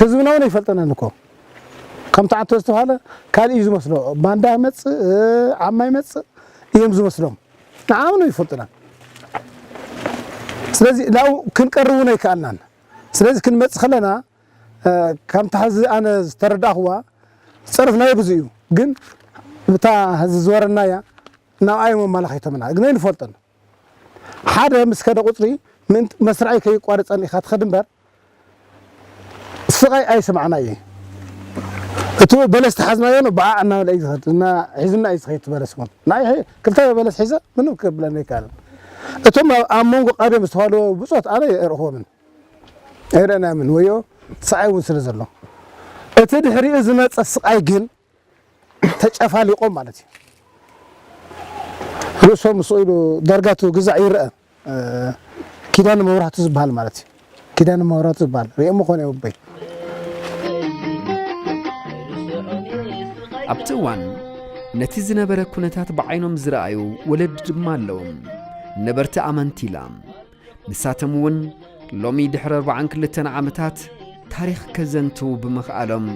ህዝብና እውን ኣይፈልጠናን እኮ ከምቲ ዓቶ ዝተባህለ ካልእ እዩ ዝመስሎ ባንዳ ይመፅእ ዓማ ይመፅእ እዮም ዝመስሎም ንዓና እውን ኣይፈልጡናን ስለዚ ናብኡ ክንቀርብ እውን ኣይከኣልናን ስለዚ ክንመፅእ ከለና ከምቲ ሕዚ ኣነ ዝተረዳእኽዋ ፀርፍናዮ ብዙ እዩ ግን እታ ሕዚ ዝወረናያ ናብ ኣዮም ኣመላኺቶምና ግን ኣይንፈልጦን ሓደ ምስ ከደ ቁጽሪ ምእንቲ መስርዐይ ከይቋርጸኒ ኢኻ ትኸድ እምበር ስቓይ ኣይስምዓና እየ እቲ በለስ ተሓዝናዮ ን በዓዕ እናበለ እዩ ዝኸድ እና ሒዙና እዩ ዝኸድ እቲ በለስ እውን ንዓይ ሕይ ክልተ በለስ ሒዘ ምንም ክብለኒ ኣይከኣለን እቶም ኣብ ኣብ መንጎ ቃድዮም ዝተዋልዎ ብጾት ኣነ ኣይርኽቦምን ኣይርኣናዮምን ወዮ ሰዓይ እውን ስለ ዘሎ እቲ ድሕሪኡ ዝመጸ ስቓይ ግን ተጨፋሊቆም ማለት እዩ ርእሶም ምስኡ ኢሉ ዳርጋ እቲ ግዛዕ ይረኣ ኪዳነ መብራህቱ ዝበሃል ማለት እዩ ኪዳነ መብራህቱ ዝበሃል ሪኦሞ ኮነ ውበይ ኣብቲ እዋን ነቲ ዝነበረ ኩነታት ብዓይኖም ዝረኣዩ ወለዲ ድማ ኣለዎም ነበርቲ ኣመንቲ ኢላ ንሳቶም እውን ሎሚ ድሕሪ ኣርባዓን ክልተን ዓመታት ታሪኽ ከዘንትው ብምኽኣሎም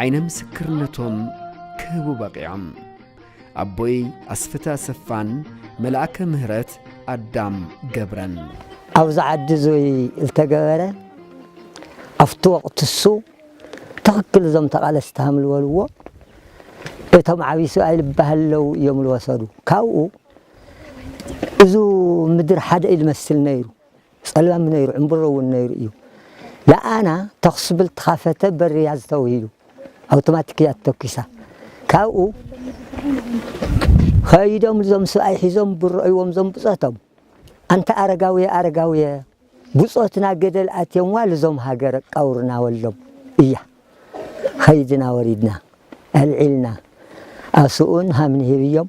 ዓይነ ምስክርነቶም ክህቡ በቒዖም ኣቦይ ኣስፍተ ኣሰፋን መልኣከ ምህረት ኣዳም ገብረን ኣብዚ ዓዲ እዙይ ዝተገበረ ኣብቲ ወቅቲ እሱ ትኽክል እዞም ተቓለስቲ ሃም ዝበልዎ እቶም ዓብይ ስብኣይ ልበሃለው እዮም ዝወሰዱ ካብኡ እዙ ምድር ሓደ እዩ ልመስል ነይሩ ጸልማም ነይሩ ዕምብሮ እውን ነይሩ እዩ ለኣና ተኽስብል ተኻፈተ በርያ ዝተውሂሉ ኣውቶማቲክ እያ ተተኪሳ ካብኡ ከይዶም እዞም ስብኣይ ሒዞም ብረእይዎም ዞም ብጾቶም ኣንተ ኣረጋውየ ኣረጋውየ ብጾትና ገደል ኣትዮምዋ ልዞም ሃገር ቃውርና ወሎም እያ ኸይድና ወሪድና ኣልዒልና ኣስኡን ሃምንሂብዮም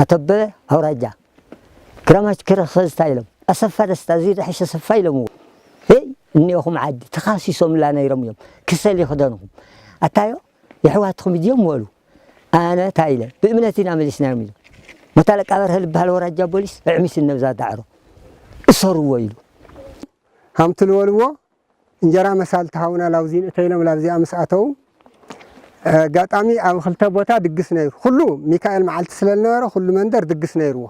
ኣቶበበ ኣውራጃ ግራማች ክረኸ ዝታይ ኢሎም ኣሰፋ ደስታ እዙይ ደሐሽ ኣሰፋ ኢሎምዎ እይ እኔኦኹም ዓዲ ተኻሲሶምላ ነይሮም እዮም ክሰል ይኽደንኹም ኣታዮ የሕዋትኹም እድዮም ወሉ ኣነ ታይ ኢለ ብእምነት ኢና መሊስናዮም ኢሉ መቶ ኣለቃ በርሀ ልበሃል ወራጃ ቦሊስ እዕሚስ እነብዛ ዳዕሮ እሰሩዎ ኢሉ ሃምቱ ልወልዎ እንጀራ መሳልት ሃውና ላውዚ ንእተ ኢሎም ላብዚኣ ምስ ኣተዉ ኣጋጣሚ ኣብ ክልተ ቦታ ድግስ ነይሩ ኩሉ ሚካኤል መዓልቲ ስለ ዝነበረ ኩሉ መንደር ድግስ ነይርዎ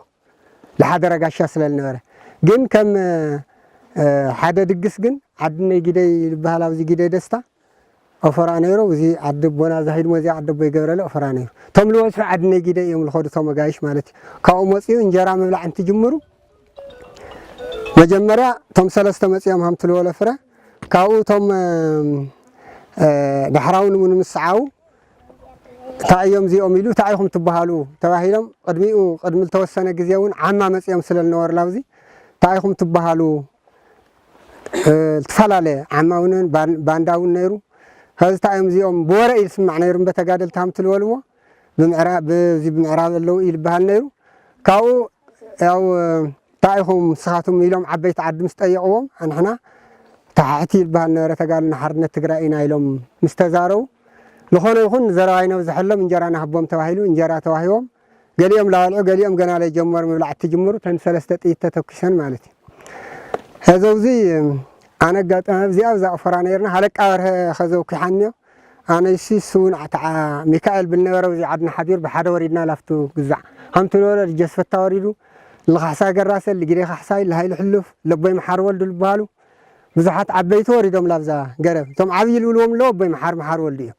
ዝሓደረ ጋሻ ስለ ዝነበረ ግን ከም ሓደ ድግስ ግን ዓድነይ ጊደይ ዝበሃል ኣብዚ ጊደይ ደስታ ኦፈራ ነይሩ እዚ ዓዲ ኣቦና እዛ ህድሞ እዚኣ ዓዲ ኣቦይ ገብረለ ኦፈራ ነይሩ እቶም ልበዝሑ ዓዲ ነጊደ እዮም ልኸዱ እቶም ኣጋይሽ ማለት እዩ ካብኡ መፅኡ እንጀራ ምብላዕ እንትጅምሩ መጀመርያ እቶም ሰለስተ መፅኦም ሃምቲ ልበሎ ፍረ ካብኡ እቶም ዳሕራዊ ንሙን ምስ ሰዓቡ እንታይ እዮም እዚኦም ኢሉ እንታይ ኢኹም ትበሃሉ ተባሂሎም ቅድሚኡ ቅድሚ ዝተወሰነ ግዜ እውን ዓማ መፅኦም ስለ ዝነበሩ ላብዚ እንታይ ኢኹም ትበሃሉ ዝተፋላለየ ዓማዊነን ባንዳውን ነይሩ ከዝታ እዮም እዚኦም ብወረ እዩ ዝስማዕ ነይሩ እምበ ተጋደልቲ ሃምቲ ዝበልዎ ብዚ ብምዕራብ ኣለዉ እዩ ዝበሃል ነይሩ ካብኡ ያው እንታይ ኢኹም ንስኻትኩም ኢሎም ዓበይቲ ዓዲ ምስ ጠየቕዎም ኣንሕና ታሕቲ ዝበሃል ነበረ ተጋልና ሓርነት ትግራይ ኢና ኢሎም ምስ ተዛረቡ ዝኾነ ይኹን ዘረባ ይነብዝሐሎም እንጀራ ናህቦም ተባሂሉ እንጀራ ተዋሂቦም ገሊኦም ላበልዑ ገሊኦም ገና ለይጀመሩ ምብላዕ እትጅምሩ ተን ሰለስተ ጥይት ተተኪሰን ማለት እዩ ሀዘውዚ ኣነ ኣጋጣሚ ኣብዚ ኣብ ዛቕፎራ ነይርና ሃለቃ በርሀ ኸዘው ኪሓንዮ ኣነይሲ ስውን ዓተዓ ሚካኤል ብልነበረው እዚ ዓድና ሓዲር ብሓደ ወሪድና ላፍቱ ግዛዕ ሃምቱ ነበረ ልጀስ ፈታ ወሪዱ ልኻሕሳይ ገራሰ ልጊዴ ካሕሳይ ልሃይሉ ሕሉፍ ለቦይ መሓር ወልዱ ልበሃሉ ብዙሓት ዓበይቲ ወሪዶም ላብዛ ገረብ እቶም ዓብይ ልብልዎም ኣለዎ ኣቦይ መሓር መሓር ወልዱ እዮም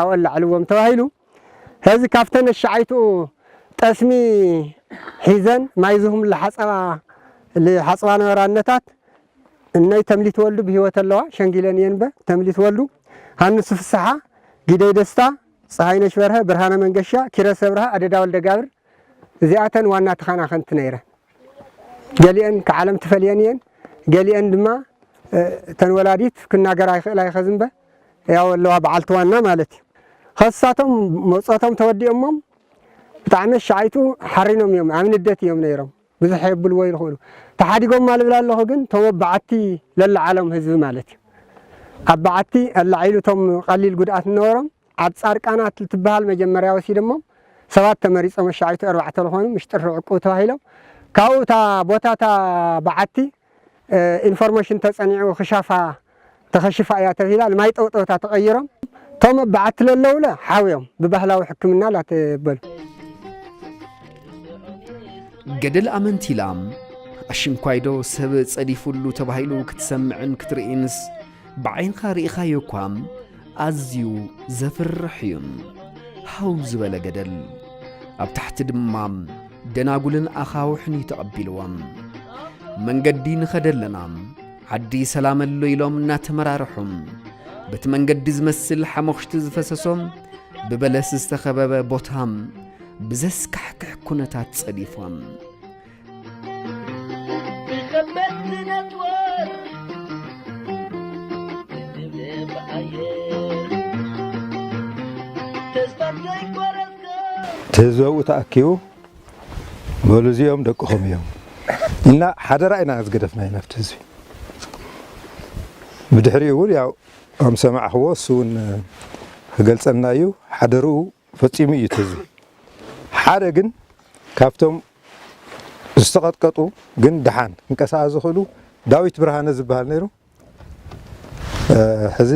ኣብኡ ኣላዕልዎም ተባሂሉ ሐዚ ካብተን ኣሻዓይትኡ ጠስሚ ሒዘን ማይ ዝህምሉ ሓፀባ ልሓፅባ ነበራ እነታት እነይ ተምሊት ወልዱ ብህይወት ኣለዋ ሸንጊለን እየን በ ተምሊት ወልዱ ሃንሱ ፍስሓ ጊደይ ደስታ ፀሃይነሽ በርሀ ብርሃነ መንገሻ ኪረስ ኣብርሃ ኣደዳ ወልደጋብር እዚኣተን ዋና ተኻናኸንቲ ነይረን ገሊአን ክዓለም ትፈልየን እየን ገሊአን ድማ እተን ወላዲት ክናገራ ይኽእላ ይኸዝንበ ያው ኣለዋ በዓልቲ ዋና ማለት እዩ ኸሳቶም መውፀቶም ተወዲኦሞም ብጣዕሚ ኣሻዓይቱ ሓሪኖም እዮም ኣብ ንደት እዮም ነይሮም ብዙሕ የብልዎ ይልኽእሉ ተሓዲጎማ ልብል ኣለኹ ግን ቶም ኣብ በዓቲ ለለዓሎም ህዝቢ ማለት እዩ ኣብ በዓቲ ኣላዒሉ ቶም ቐሊል ጉድኣት እነበሮም ኣብ ፃርቃናት ልትበሃል መጀመርያ ወሲደሞም ሰባት ተመሪፆም ኣሻዓይቱ ኣርባዕተ ልኾኑ ምሽ ጥሪ ዕቁብ ተባሂሎም ካብኡ እታ ቦታ እታ በዓቲ ኢንፎርሜሽን ተጸኒዑ ክሻፋ ተኸሺፋ እያ ተብሂላ ንማይ ጠውጠውታ ተቐይሮም ቶም በዓቲ ለለውለ ሓውዮም ብባህላዊ ሕክምና ላተበሉ። ገደል ኣመንቲላ ኣሽንኳይዶ ሰብ ጸዲፉሉ ተባሂሉ ክትሰምዕን ክትርእይንስ ብዓይንኻ ርኢኻዮ እኳ ኣዝዩ ዘፍርሕ እዩ። ሃው ዝበለ ገደል፣ ኣብ ታሕቲ ድማ ደናጉልን ኣኻውሕን እዩ ተቐቢልዎም። መንገዲ ንኸደ ኣለና፣ ዓዲ ሰላም ኣሎ ኢሎም እናተመራርሑ በቲ መንገዲ ዝመስል ሓሞኽሽቲ ዝፈሰሶ ብበለስ ዝተኸበበ ቦታ ብዘስካሕክሕ ኩነታት ጸዲፎም ትህዝበኡ ተኣኪቡ በሉ እዚኦም ደቅኹም እዮም እና ሓደራ ኢና ዝገደፍና ኢና ኣብቲ ህዝቢ ብድሕሪኡ እውን ያው ከም ሰማዕኽዎ እሱ እውን ክገልፀልና እዩ ሓደርኡ ፈጺሙ እዩ እቲ ህዝቢ። ሓደ ግን ካብቶም ዝተቐጥቀጡ ግን ደሓን ክንቀሳቐስ ዝኽእሉ ዳዊት ብርሃነ ዝበሃል ነይሩ። ሕዚ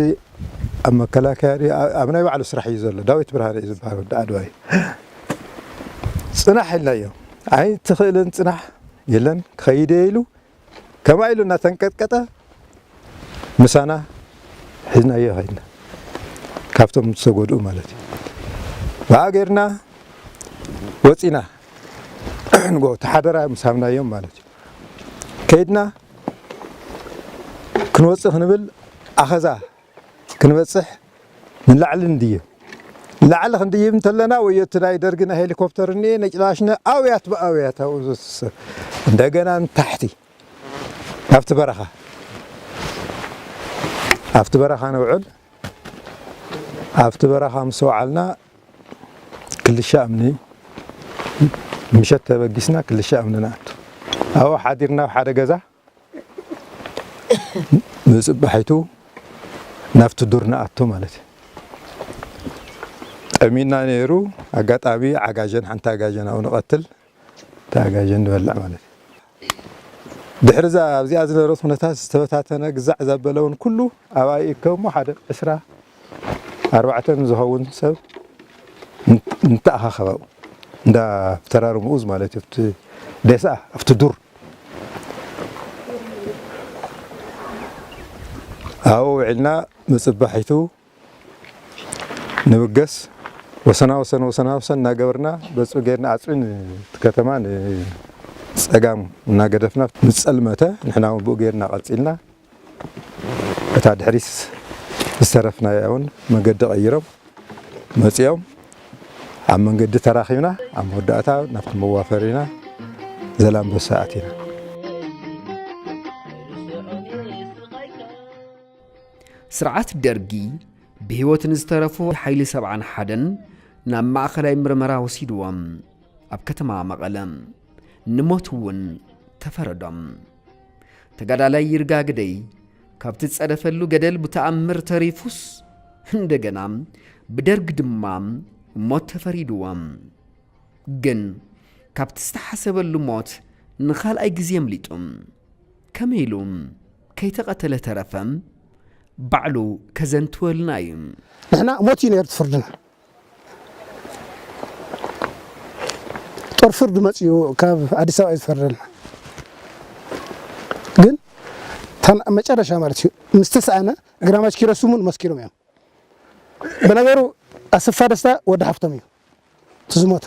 ኣብ መከላከያ ድዩ ኣብ ናይ ባዕሉ ስራሕ እዩ ዘሎ። ዳዊት ብርሃነ እዩ ዝበሃል ወዲ ዓድዋ እዩ። ጽናሕ ኢልናዮ ኣይትኽእልን ጽናሕ የለን ክኸይድ እየ ኢሉ ከምኣ ኢሉ እናተንቀጥቀጠ ምሳና ሒዝናዮ ከድና። ካብቶም ዝተጎድኡ ማለት እዩ። ብኣ ጌርና ወጺና ንጎ እቲ ሓደራ ምስ ሃብናዮም ማለት እዩ። ከይድና ክንወጽእ ክንብል ኣኸዛ ክንበጽሕ ንላዕሊ ንድይብ። ንላዕሊ ክንድይብ እንተለና ወዮ'ቲ ናይ ደርጊ ናይ ሄሊኮፕተር እንኤ ነጭላሽነ ኣውያት ብኣውያት ኣብኡ ዘትስብ እንደገና ንታሕቲ ኣብቲ በረኻ ኣብቲ በረኻ ንውዕል ኣብቲ በረኻ ምስ ወዓልና ክልሻ እምኒ ምሸት ተበጊስና ክልሻ እምኒ ንኣቱ ኣብኡ ሓዲርና ኣብ ሓደ ገዛ ንጽባሒቱ ናብቲ ዱር ንኣቱ ማለት እዩ። ጠሚዩና ነይሩ ኣጋጣሚ ዓጋዜን ሓንቲ ኣጋዜን ኣብኡ ንቐትል እታ ኣጋዜን ንበልዕ ማለት እዩ። ድሕሪ እዛ ኣብዚኣ ዝነበረት ኩነታት ዝተበታተነ ግዛዕ ዘበለ እውን ኩሉ ኣብኣ ይእከብ እሞ ሓደ ዕስራ ኣርባዕተ ንዝኸውን ሰብ ንተኣኻኸብ ኣብኡ እንዳ ተራርምኡዝ ማለት እዩ ኣብቲ ዴስኣ ኣብቲ ዱር ኣብኡ ውዒልና ብፅባሒቱ ንብገስ ወሰና ወሰን ወሰና ወሰን እናገበርና በፁ ጌርና ኣፅቢ እቲ ከተማ ንፀጋም እናገደፍና ምስ ፀልመተ ንሕና እውን ብኡ ጌርና ቀፂልና። እታ ድሕሪት ዝተረፍናያ'ውን መገዲ ቀይሮም መጺኦም ኣብ መንገዲ ተራኺብና ኣብ መወዳእታ ናብቲ መዋፈሪና ዘላምበሳ ኣቲና። ስርዓት ደርጊ ብህይወት ንዝተረፉ ሓይሊ ሰብዓን ሓደን ናብ ማእኸላይ ምርመራ ወሲድዎም ኣብ ከተማ መቐለ ንሞት እውን ተፈረዶም። ተጋዳላይ ይርጋ ግደይ ካብቲ ዝጸደፈሉ ገደል ብተኣምር ተሪፉስ እንደገና ብደርግ ድማ ሞት ተፈሪድዎ። ግን ካብቲ ዝተሓሰበሉ ሞት ንኻልኣይ ግዜ ኣምሊጡ። ከመይ ኢሉ ከይተቐተለ ተረፈ? ባዕሉ ከዘንትወልና እዩ። ንሕና ሞት እዩ ነይሩ እቲ ፍርድና። ጦር ፍርዱ መጺኡ ካብ ኣዲስ ኣበባ እዩ ዝፈርደልና ግን እታ ኣብ መጨረሻ ማለት እዩ ምስ ተስኣነ ግራማች ኪሮስ ስሙን መስኪሮም እዮም ብነገሩ ኣሰፋ ደስታ ወዲ ሓፍቶም እዩ እቲ ዝሞተ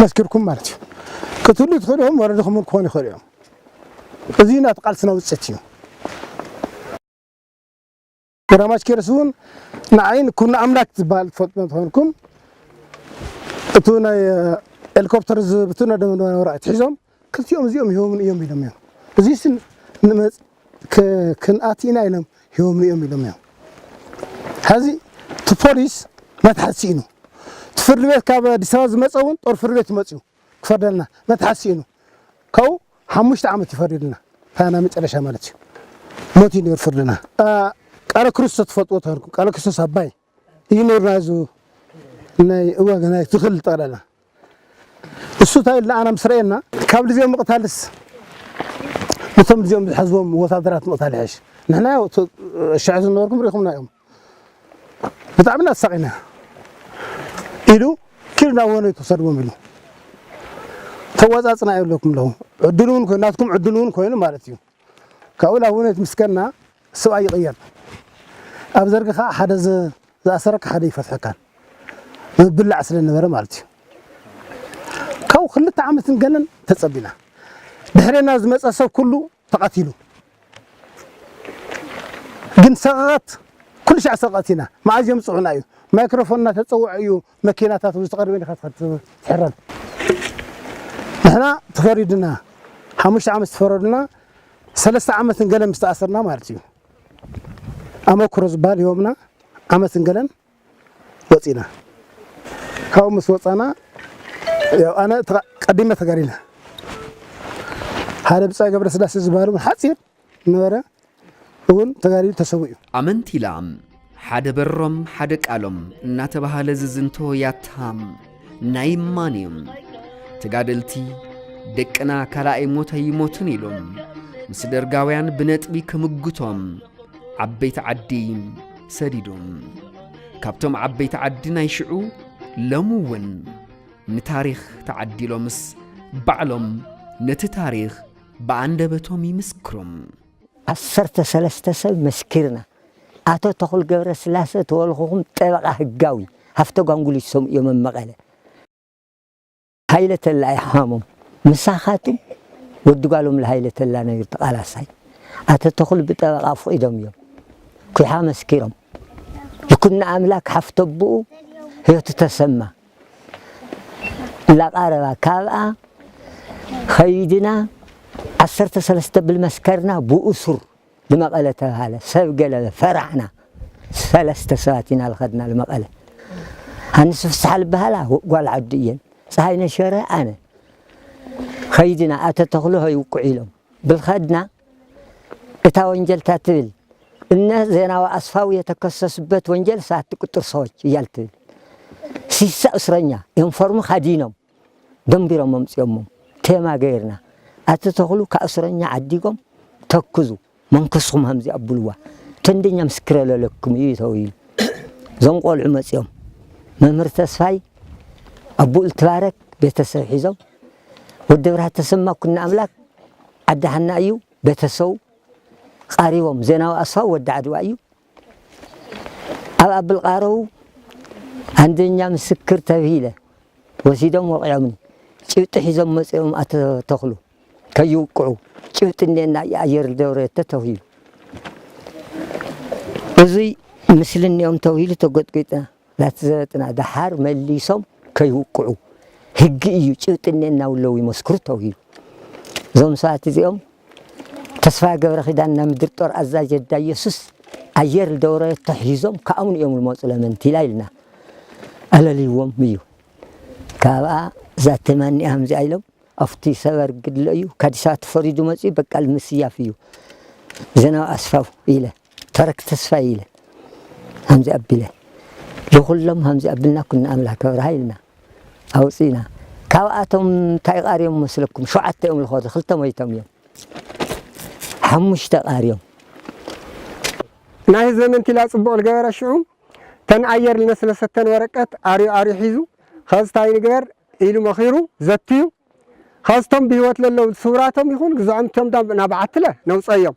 መስኪርኩም ማለት እዩ ክትህሉ ትኽእሉ እዮም ወለድኹም እውን ክኾኑ ይኽእሉ እዮም እዚ ናቲ ቃልስና ውፅኢት እዩ ግራማች ኬርስ እውን ንዓይን ኩን ኣምላክ ዝበሃል ትፈልጡ እንትኾንኩም እቲ ናይ ሄሊኮፕተር ዝብትነ ደመንበራ ወራኢት ሒዞም ክልቲኦም እዚኦም ሂቦምኒ እዮም ኢሎም እዮም። እዙይሲ ንመፅ ክንኣቲ ኢና ኢሎም ሂቦምኒ እዮም ኢሎም እዮም። ሐዚ እቲ ፖሊስ መትሓዚ ስኢኑ እቲ ፍርድ ቤት ካብ ኣዲስ ኣበባ ዝመፀ እውን ጦር ፍርድ ቤት መፅዩ ክፈርደልና መትሓዚ ስኢኑ ካብኡ ሓሙሽተ ዓመት እዩ ፈሪዱና እታ ናይ መጨረሻ ማለት እዩ ሞት እዩ ነይሩ ፍርድና። ቃለ ክርስቶስ ትፈልጥዎ ተኮንኩም ቃለ ክርስቶስ ኣባይ ይኑርና እዚ ናይ እዋገ ናይ ትክል ጠቅላላ እሱ ታይ እልና ኣና ምስ ረኤና ካብ ልዚኦም ምቅታልስ ነቶም ልዚኦም ዝሐዝዎም ወታደራት ምቅታል ይሐሽ ንሕና ያው እቲ ሽሕ ዝነበርኩም ሪኢኹምና እዮም ብጣዕሚ እና ተሳቂና ኢሉ ኪዱ ናብ ወነይ ትውሰድዎም ኢሉ ተዋፃፅና የብለኩም ኣለኹ ዕድል እውን ኮይኑ ናትኩም ዕድል እውን ኮይኑ ማለት እዩ ካብኡ ናብ ውኔት ምስ ከድና ሰብኣይ ይቕየር። ኣብ ዘርጊ ከኣ ሓደ ዝኣሰረካ ሓደ ይፈትሐካን ምብላዕ ስለ ዝነበረ ማለት እዩ። ካብኡ ክልተ ዓመትን ገለን ተጸቢና። ድሕሬና ዝመጸ ሰብ ኩሉ ተቐቲሉ። ግን ሰቕቐት ኩልሻዕ ሰቕቐት ኢና። መኣዝ ይምጽዑና እዩ። ማይክሮፎን እናተጸውዐ እዩ መኪናታት እውን ዝተቐደመ ዲኻ ትኸድ ትሕረም ንሕና ተፈሪድና ሓሙሽተ ዓመት ዝተፈረዱና ሰለስተ ዓመትን ገለን ምስ ተኣሰርና ማለት እዩ ኣመክሮ ዝበሃል ሂቦምና ዓመትን ገለን ወፂና ካብኡ ምስ ወፃና ያው ኣነ ተቐ- ቀዲመ ተጋዲለ ሓደ ብፃይ ገብረስላሴ ዝበሃሉ ሓፂር ዝነበረ እውን ተጋዲሉ ተሰዊኡ። ኣመንቲ ላም ሓደ በሮም ሓደ ቃሎም እናተባህለ ዝዝንቶ ያታ ናይ እማን እዩ። ተጋደልቲ ደቅና ካልኣይ ሞት ኣይሞቱን ኢሉ ምስ ደርጋውያን ብነጥቢ ክምጉቶም ዓበይቲ ዓዲ ሰዲዱ። ካብቶም ዓበይቲ ዓዲ ናይ ሽዑ ሎሚ እውን ንታሪኽ ተዓዲሎምስ ባዕሎም ነቲ ታሪኽ ብኣንደበቶም ይምስክሩ። ዓሰርተ ሰለስተ ሰብ መስኪርና። ኣቶ ተኽሉ ገብረስላሰ ተወልኹኹም ጠበቓ ህጋዊ ሃፍተጓንጉሊት ሰምኡዮም ኣብ መቐለ። ሃይለ ተላ እዩ ሓሞም ምሳኻትም ወዲ ጓሎም ለሃይለ ተላ ነይሩ ተቓላሳይ። ኣቶ ተኽሉ ብጠበቓ ኣፍቒዶም እዮም ኩሓ መስኪሮም። ይኩኖኣምላክ ሓፍተቦኡ ህይወቱ ተሰማ። ለቀረባ ካብኣ ኸይድና ዓሰርተ ሰለስተ ብል መስከርና ብእሱር ልመቐለ ተብሃለ ሰብ ገለበ ፈራሕና ሰለስተ ሰባት ኢና ልኸድና ልመቐለ ኣንስ ፍስሓ ልበሃላ ጓል ዓዱ እየን ፀሃይነ ሸረ ኣነ ኸይድና ኣተ ተኽሉ ሀይ ውቁዕ ኢሎም ብልኸድና እታ ወንጀል እታ ትብል እነ ዜናዊ ኣስፋው የተከሰሱበት ወንጀል ሳት ቁጥር ሰዎች እያል ትብል ሲሳ እስረኛ ዩኒፎርም ካዲኖም ደንቢሮም መምፅኦሞም ቴማ ገይርና ኣቲ ተኽሉ ካብ እስረኛ ዓዲጎም ተክዙ መንከስኹም ከምዚ ኣብልዋ ተንደኛ ምስክረ ለለኩም እዩ ተውይሉ እዞም ቆልዑ መፅኦም መምህር ተስፋይ ኣቡኡ ልትባረክ ቤተሰብ ሒዞም ወዲ ብርሃ ተሰማ ኩና ኣምላክ ዓዲ ሃና እዩ ቤተሰቡ ቓሪቦም ዜናዊ ኣስፋው ወዲ ዓድዋ እዩ ኣብ ኣብል ቓረው ኣንደኛ ምስክር ተብሂለ ወሲዶም ወቂዖምኒ ጭብጢ ሒዞም መፅኦም ኣቶ ተኽሉ ከይውቅዑ ጭብጢ እኔና ኣየር ደብረየተ ተብሂሉ እዙይ ምስልኒኦም ተብሂሉ ተጎጥጒጥና ናቲ ዘበጥና ደሓር መሊሶም ከይውቅዑ ህጊ እዩ ጭብጢ እኔና ውለው ይመስክሩ ተውሂሉ እዞም ሰባት እዚኦም ተስፋ ገብረ ኪዳን ናብ ምድር ጦር ኣዛዥ የዳ ኢየሱስ ኣየር ደውረ ተሒዞም ከኣምኑ እዮም ዝመፁ ለመንቲ ኢላ ኢልና ኣለልይዎም እዩ ካብኣ እዛ ተማኒኣ ከምዚኣ ኢሎም ኣብቲ ሰበር ግድለ እዩ ከዲሳ ተፈሪዱ መፅኡ በቃል ምስያፍ እዩ ዘናዊ ኣስፋው ኢለ ተረክ ተስፋይ ኢለ ሃምዚ ኣቢለ ልኹሎም ሃምዚ ኣብልና ኩና ኣምላክ ኣብርሃ ኢልና ኣውጺእና ካብኣቶም እንታይ ቃርዮም መስለኩም ሸውዓተ እዮም ልኾዱ ክልተ ሞይቶም እዮም ሓሙሽተ ቃርዮም ናይ ህዘመን ቲላ ጽቡቕ ልገበረ ሽዑ ተን ኣየር ልነስነሰተን ወረቀት ኣርዩ ኣርዩ ሒዙ ኸዚ ታይ ንግበር ኢሉ መኺሩ ዘትዩ ኸዚ ቶም ብህይወት ለለው ስውራቶም ይኹን ግዝዖም ቶም ናብ ዓትለ ነውጸዮም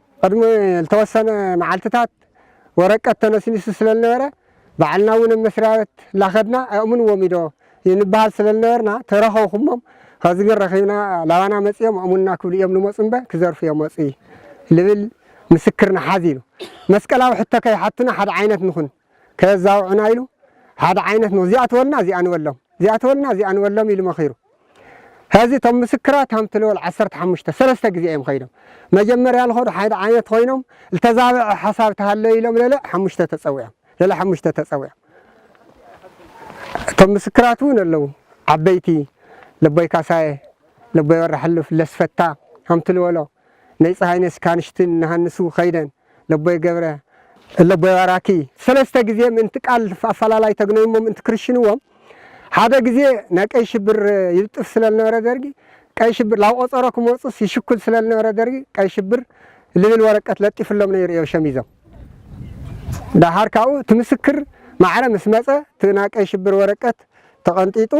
ቕድሚ ልተወሰነ መዓልትታት ወረቀት ተነስኒሱ ስለ ልነበረ ባዕልና እውን ብ መስርያበት ላኸድና ኣእሙንዎም ኢዶ ይንበሃል ስለ ልነበርና ተረኸውኹሞም ኸዚ ግን ረኺብና ላባና መፅዮም ኣእሙንና ክብሉ እዮም ልመፁ እምበ ክዘርፉ እዮም መፁ ልብል ምስክር ንሓዝ ኢሉ። መስቀላዊ ሕቶ ከይሓቱና ሓደ ዓይነት ንኹን። ከየዛውዑና ኢሉ ሓደ ዓይነት ሞ እዚኣ ትበልና እዚኣ ንበሎም እዚኣ ትበልና እዚኣ ንበሎም ኢሉ መኺሩ ሐዚ እቶም ምስክራት ሃምቲ ልወል ዓሰርተ ሓሙሽተ ሰለስተ ግዜ እዮም ኸይዶም መጀመርያ ልኸዱ ሓደ ዓይነት ኮይኖም ልተዛበዐ ሓሳብ ተሃለ ኢሎም ለለ ሓሙሽተ ተፀዊዖም ለለ ሓሙሽተ ተፀዊዖም እቶም ምስክራት እውን ኣለዉ ዓበይቲ ለቦይ ካሳየ ለቦይ ወረ ሕሉፍ ለስፈታ ሃምቲ ልወሎ ነይ ፀሃይነሽ ካንሽትን ንሃንሱ ኸይደን ለቦይ ገብረ፣ ለቦይ ባራኪ፣ ሰለስተ ግዜ ምእንቲ ቃል ኣፈላላይ ተግነዩሞ ምእንቲ ክርሽንዎም፣ ሓደ ግዜ ናይ ቀይ ሽብር ይልጥፍ ስለ ልነበረ ደርጊ፣ ቀይ ሽብር ላብ ቆጸሮ ክመጹስ ይሽኩል ስለ ልነበረ ደርጊ፣ ቀይ ሽብር ልብል ወረቀት ለጢፍሎም ነይሩ እዮም ሸሚዞም። ደሓር ካብኡ እቲ ምስክር ማዕረ ምስ መጸ እቲ ናይ ቀይ ሽብር ወረቀት ተቀንጢጡ፣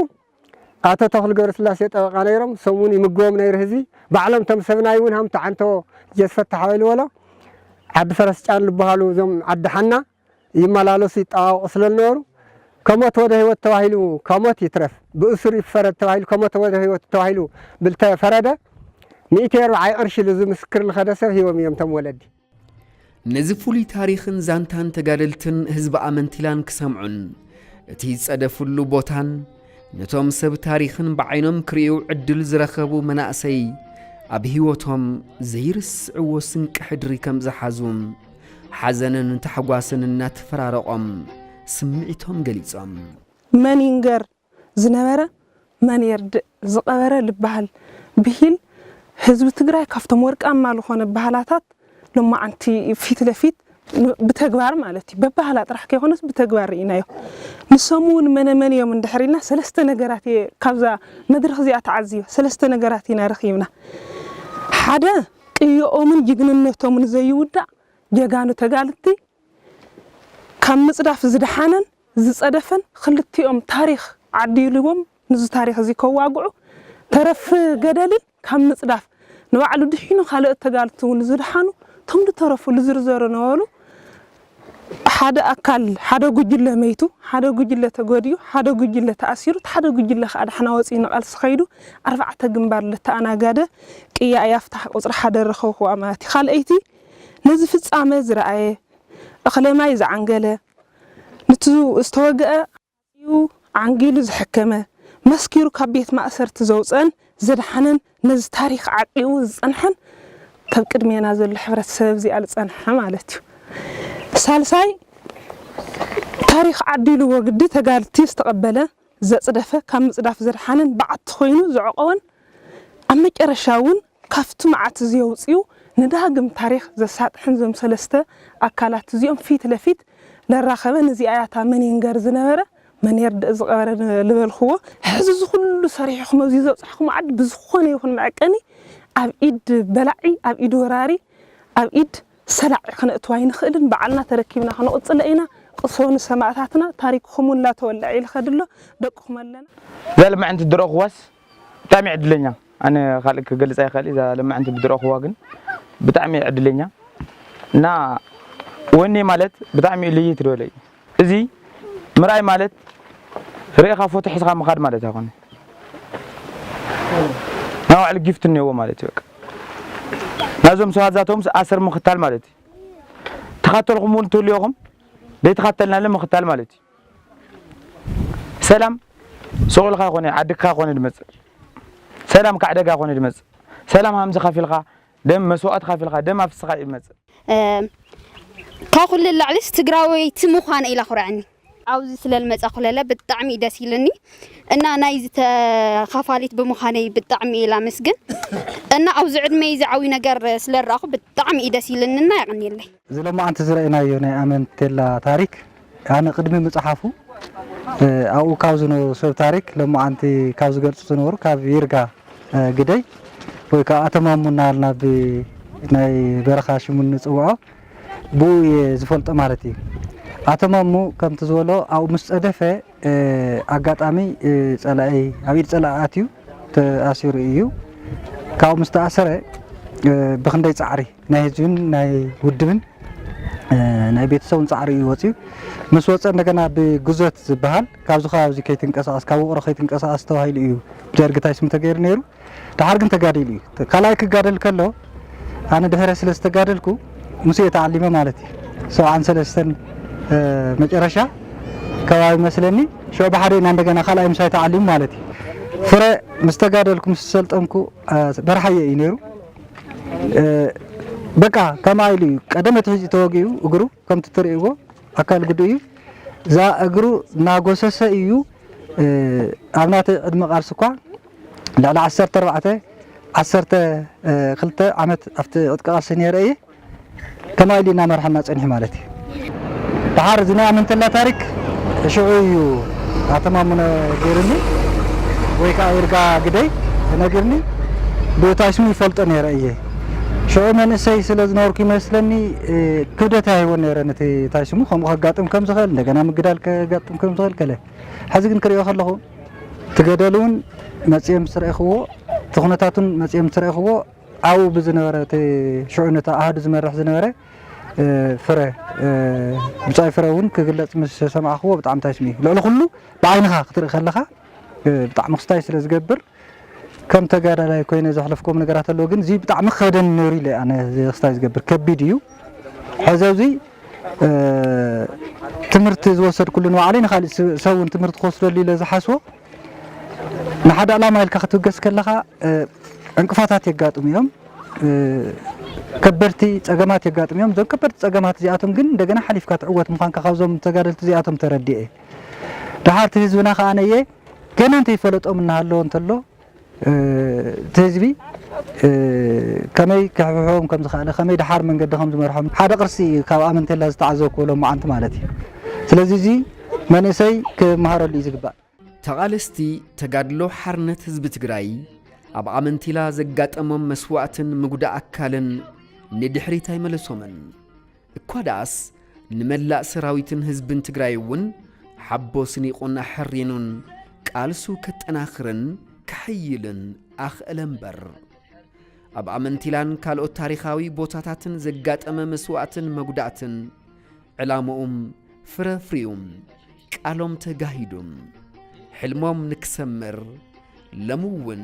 ኣቶ ተኽሉ ገብረስላሴ ጠበቃ ነይሮም ሰሙን ይምግቦም ነይሩ ህዝቢ ባዕሎም እቶም ሰብናይ እውን ሃምቱ ዓንቶ ጀስ ፈታሕ ኣበልዎሎ ዓዲ ፈረስ ጫን ልበሃሉ እዞም ዓዲ ሓና ይመላለሱ ይጠዋወቁ ስለ ልነበሩ ከሞት ወደ ህይወት ተባሂሉ ከሞት ይትረፍ ብእሱር ይፈረድ ተባሂሉ ከሞተ ወደ ህይወት ተባሂሉ ብልተፈረደ ሚእቲ ኣርብዓይ ቅርሺ ልዚ ምስክር ልኸደ ሰብ ሂቦም እዮም እቶም ወለዲ። ነዚ ፍሉይ ታሪኽን ዛንታን ተጋደልትን ህዝቢ ኣመንቲላን ክሰምዑን እቲ ዝጸደፍሉ ቦታን ነቶም ሰብ ታሪኽን ብዓይኖም ክርእዩ ዕድል ዝረኸቡ መናእሰይ ኣብ ህይወቶም ዘይርስዕዎ ስንቂ ሕድሪ ከም ዝሓዙ ሓዘንን ታሕጓስን እናተፈራረቖም ስምዒቶም ገሊጾም መን ይንገር ዝነበረ መን የርድእ ዝቐበረ ልበሃል ብሂል ህዝቢ ትግራይ ካብቶም ወርቃማ ልኾነ ባህላታት ሎማዓንቲ ፊት ለፊት ብተግባር ማለት እዩ በባህላ ጥራሕ ከይኾነስ ብተግባር ርኢናዮ ንሶም ውን መነ መን እዮም እንድሕር ኢልና ሰለስተ ነገራት እየ ካብዛ መድረኽ እዚኣ ተዓዚበ ሰለስተ ነገራት ኢና ረኺብና ሓደ ቅዮኦምን ጅግንነቶምን ዘይውዳእ ጀጋኑ ተጋልቲ ካብ ምፅዳፍ ዝደሓነን ዝጸደፈን ክልቲኦም ታሪኽ ዓዲሊዎም ንዚ ታሪኽ እዚ ከዋግዑ ተረፍ ገደልን ካብ ምጽዳፍ ንባዕሉ ድሒኑ ካለኦት ተጋልቲ እውን ዝድሓኑ እቶም ዝተረፉ ልዝርዘሩ ነበሩ ሓደ ኣካል ሓደ ጉጅለ መይቱ ሓደ ጉጅለ ተጎዲኡ ሓደ ጉጅለ ተኣሲሩ እቲ ሓደ ጉጅለ ከኣ ዳሕና ወጺኡ ንቓልሲ ከይዱ ኣርባዕተ ግንባር ልተኣናጋደ ቅያ እያ ፍታሕ ቁጽሪ ሓደ ረኸብክዋ ማለት እዩ ካልኣይቲ ነዚ ፍጻመ ዝረኣየ እኽለ ማይ ዝዓንገለ ንቲ ዝተወግኣ ሓጺኡ ዓንጊሉ ዘሐከመ፣ መስኪሩ ካብ ቤት ማእሰርቲ ዘውጽኣን ዘድሓነን ነዚ ታሪኽ ዓቂቡ ዝጸንሐን ካብ ቅድሜና ዘሎ ሕብረተሰብ ኣብዚኣ ዝጸንሐ ማለት እዩ። ሳልሳይ ታሪኽ ዓዲሉ ወግዲ ተጋድልቲ ዝተቐበለ፣ ዘጽደፈ፣ ካብ ምጽዳፍ ዘድሓነን በዓቲ ኮይኑ ዘዕቆበን ኣብ መጨረሻ እውን ካብቲ መዓት እዚ ኣውጺኡ ንዳግም ታሪኽ ዘሳጥሕን እዞም ሰለስተ ኣካላት እዚኦም ፊት ለፊት ለራኸበን እዚኣ እያ እታ መን ይንገር ዝነበረ መን የርድእ ዝቐበረ ልበልኩዎ ሕዚ እዚ ኩሉ ሰሪሕኹም ኣብዚ ዘብጻሕኩሞ ዓዲ ብዝኾነ ይኹን መዐቀኒ ኣብ ኢድ በላዒ ኣብ ኢድ ወራሪ ኣብ ኢድ ሰላዒ ክነእትዎ ኣይንኽእልን ባዕልና ተረኪብና ክንቕጽሎ ኢና ቅሰኑ ንሰማእታትና ታሪክኹም ውን ላተወልዐ ይልኸድ ኣሎ ደቅኹም ኣለና። ዘልምዕንቲ ድሮ ክወስ ብጣዕሚ ዕድለኛ ኣነ ካልእ ክገልጽ ኣይክእል እዛ ለማዕንቲ ብዝረኣኹዋ ግን ብጣዕሚ እየ ዕድለኛ እና ወኒ ማለት ብጣዕሚ እዩ ልይት ዝበለ እዩ እዚ ምርኣይ ማለት ርኢኻ ፎቶ ሒዝኻ ምኻድ ማለት ኣይኮነ ናይ ባዕሉ ጊፍት እኒኦዎ ማለት እዩ በቃ ናይዞም ሰባት ዛቶምስ ኣሰር ምኽታል ማለት እዩ ተኻተልኹም እውን ትህልዮኹም ዘይተኻተልናለ ምኽታል ማለት እዩ ሰላም ሱቁልካ ኮነ ዓድካ ኮነ ድመጽእ ሰላም ካዕ ደጋ ኮነ ድመጽእ ሰላም ሃምዚ ከፊልካ ደም መስዋኦት ከፊልካ ደም ኣፍስካ እዩ ድመጽእ። ካብ ኩሉ ንላዕሊስ ትግራወይቲ ምዃነይ ኢላ ኣኹርዐኒ። ኣብዚ ስለልመፃ ኩለለ ብጣዕሚ እዩ ደስ ኢልኒ እና ናይ ዝተኻፋሊት ብምዃነይ ብጣዕሚ እየ ላመስግን እና ኣብዚ ዕድመይ እዚ ዓብይ ነገር ስለረኣኹ ብጣዕሚ እዩ ደስ ኢልኒ እና የቐንየለይ። እዚ ሎማዓንቲ ዝረኣናዮ ናይ ኣመንቴላ ታሪክ ኣነ ቅድሚ ምጽሓፉ ኣብኡ ካብ ዝነበሩ ሰብ ታሪክ ሎማዓንቲ ካብ ዝገልጹ ዝነበሩ ካብ ይርጋ ግደይ ወይ ከኣ ኣቶ ማሙ እናበልና ብ ናይ በረኻ ሽሙ እንጽውዖ ብኡ እየ ዝፈልጦ ማለት እዩ ኣቶ ማሙ ከምቲ ዝበሎ ኣብኡ ምስ ጸደፈ ኣጋጣሚ ጸላኢ ኣብ ኢድ ጸላኢ ኣትዩ ተኣሲሩ ኢዩ። ካብኡ ምስ ተኣሰረ ብኽንደይ ጻዕሪ ናይ ህዝብን ናይ ውድብን ናይ ቤተሰቡን ጻዕሪ ኢዩ ወጺኡ። ምስ ወጸ እንደገና ብግዞት ዝበሃል ካብዚ ከባቢ እዚ ከይትንቀሳቐስ ካብ ውቕሮ ከይትንቀሳቐስ ተባሂሉ ኢዩ ደርጊ ታይ ስሙ ተገይሩ ነይሩ። ደሓር ግን ተጋዲሉ እዩ። ካልኣይ ክጋደል ከሎ ኣነ ድሕረ ስለ ዝተጋደልኩ ምስ እየ ተዓሊመ ማለት እዩ። ሰብዓን ሰለስተን መጨረሻ ከባቢ መስለኒ ሽዑ ብሓደ ኢና እንደገና ካልኣይ ምሳይ ተዓሊሙ ማለት እዩ። ፍረ ምስ ተጋደልኩ ምስ ሰልጠንኩ በርሓየ እዩ ነይሩ። በቃ ከምኣ ኢሉ እዩ ቀደም እቲ ሕጂ ተወጊኡ እግሩ ከምቲ ትርእይዎ ኣካል ጉዱ እዩ እዛ እግሩ እናጎሰሰ እዩ ኣብ ናተይ ዕድመ ቃልሲ እኳ ልዕሊ ዓሰርተ ኣርባዕተ፣ ዓሰርተ ክልተ ዓመት ኣብቲ ዕጥቂ ቃልሲ ነይረ እየ። ከማይ ኢሉ እዩ እናመርሓና ፀኒሑ ማለት እዩ። ደሓር እዚ ናይ ኣመንተላ ታሪክ ሽዑ እዩ ኣቶ ማሙነ ገይሩኒ ወይ ከዓ ይርጋ ግደይ ነጊርኒ። ብእታ ስሙ ይፈልጦ ነይረ እየ። ሽዑ መንእሰይ ስለ ዝነበርኩ ይመስለኒ ክብደት ኣይህቦን ነይረ ነቲ ታይ ስሙ ከምኡ ከጋጥም ከም ዝኽእል እንደገና ምግዳል ከጋጥም ከም ዝኽእል ከለ ሐዚ ግን ክሪኦ ከለኹ እቲ ገደል እውን መፂኦም ምስ ረእኹዎ እቲ ኩነታት እውን መፂኦም ምስ ረእኹዎ ኣብኡ ብዝነበረ እቲ ሽዑ ነቲ ኣሃዱ ዝመርሕ ዝነበረ ፍረ ብፃይ ፍረ እውን ክግለፅ ምስ ሰማዕኹዎ ብጣዕሚ ታይስምዒ ልዕሊ ኩሉ ብዓይንኻ ክትርኢ ከለኻ ብጣዕሚ ክስታይ ስለ ዝገብር ከም ተጋዳላይ ኮይነ ዘሕለፍኩም ነገራት ኣለዎ ግን እዚ ብጣዕሚ ከብደን ነይሩ ኢለ ኣነ ክስታይ ዝገብር ከቢድ እዩ ሕዚ ኣብዚ ትምህርቲ ዝወሰድኩሉ ንባዕለይ ንኻሊእ ሰብ እውን ትምህርቲ ክወስደሉ ኢለ ዝሓስቦ ንሓደ ዕላማ ኢልካ ክትብገስ ከለኻ ዕንቅፋታት የጋጥሙ እዮም። ከበድቲ ፀገማት የጋጥሙ እዮም። እዞም ከበድቲ ፀገማት እዚኣቶም ግን እንደገና ሓሊፍካ ትዕወት ምዃንካ ካብዞም ተጋደልቲ እዚኣቶም ተረዲኤ። ደሓርቲ ህዝብና ከዓነየ ገና እንተይፈለጦም እናሃለወ እንተሎ እቲ ህዝቢ ከመይ ክሕብሕቦም ከም ዝኸኣለ፣ ከመይ ደሓር መንገዲ ከም ዝመርሖም፣ ሓደ ቅርሲ እዩ ካብ ኣመንቴላ ዝተዓዘብኩዎ ሎማዓንቲ ማለት እዩ። ስለዚ እዚ መንእሰይ ክመሃረሉ እዩ ዝግባእ። ተቓለስቲ ተጋድሎ ሓርነት ህዝቢ ትግራይ ኣብ ኣመንቴላ ዘጋጠሞም መስዋእትን ምጉዳእ ኣካልን ንድሕሪት ኣይመለሶምን። እኳ ደኣስ ንመላእ ሰራዊትን ህዝብን ትግራይ እውን ሓቦ ስኒቑን ኣሐሪኑን ቃልሱ ከጠናኽርን ከሐይልን ኣኽእለ እምበር ኣብ ኣመንቲላን ካልኦት ታሪኻዊ ቦታታትን ዘጋጠመ መስዋእትን መጉዳእትን ዕላምኡም ፍረ ፍሪኡም ቃሎም ተጋሂዱም ሕልሞም ንክሰምር ለምውን